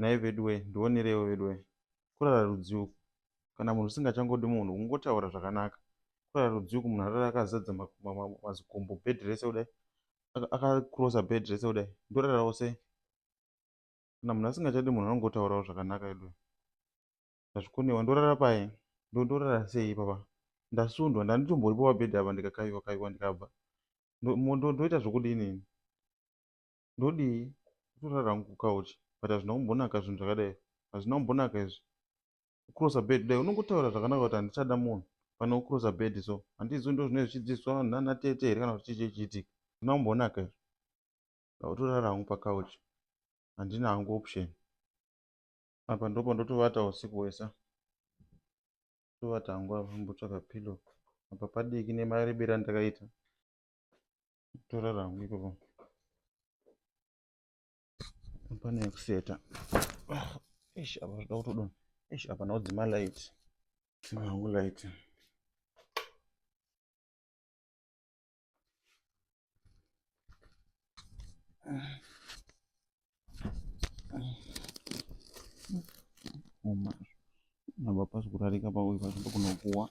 nhai veduwee ndionereiwo veduwee kurara rudzii uku kana munhu usingachangodi munhu kungotaura zvakanaka kurara rudzii uku munhu arara akazadza mazikumbu bed rese kudai akacrosa bed rese kudai ndorarawo sei kana munhu asingachadi munhu anongotaurawo zvakanaka veduwee ndazvikonewa ndorara paye ndondorara sei ipapa ndasundwa ndanditomboripo pabhedhi apa ndikakaiwa kaiwa ndikabva ndoita zvokudii nini ndodii kutorara hangu kucouch but hazvina kumbonaka zvinhu zvakadai hazvina kumbonaka izvi kucrossa bed kudai unongotaura zvakanaka kuti handichada munhu pane kucrossa bed so handizivi ndo zvinenge zvichidzidziswa vanhu nana tete here kana kuti chii chichiitika hazvina kumbonaka izvi ndautorara hangu pacouch handina hangu option apa ndopa ndotovata usiku hwese tovata hangu apa mbotsvaka pillow apa padiki nemarebera ndakaita tora rangu ikoko pane yekuseta ish apa zvoda kutodona ish apa ndaodzima light dzima hangu light Uma, nabapasi kurarika pakuipa, sikunokuwa.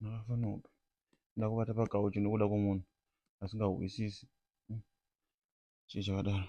Ndakafanopi. Ndakubata pakauchi nokuda kwomunhu asingahwisisi. Hmm. Chii chakadaro?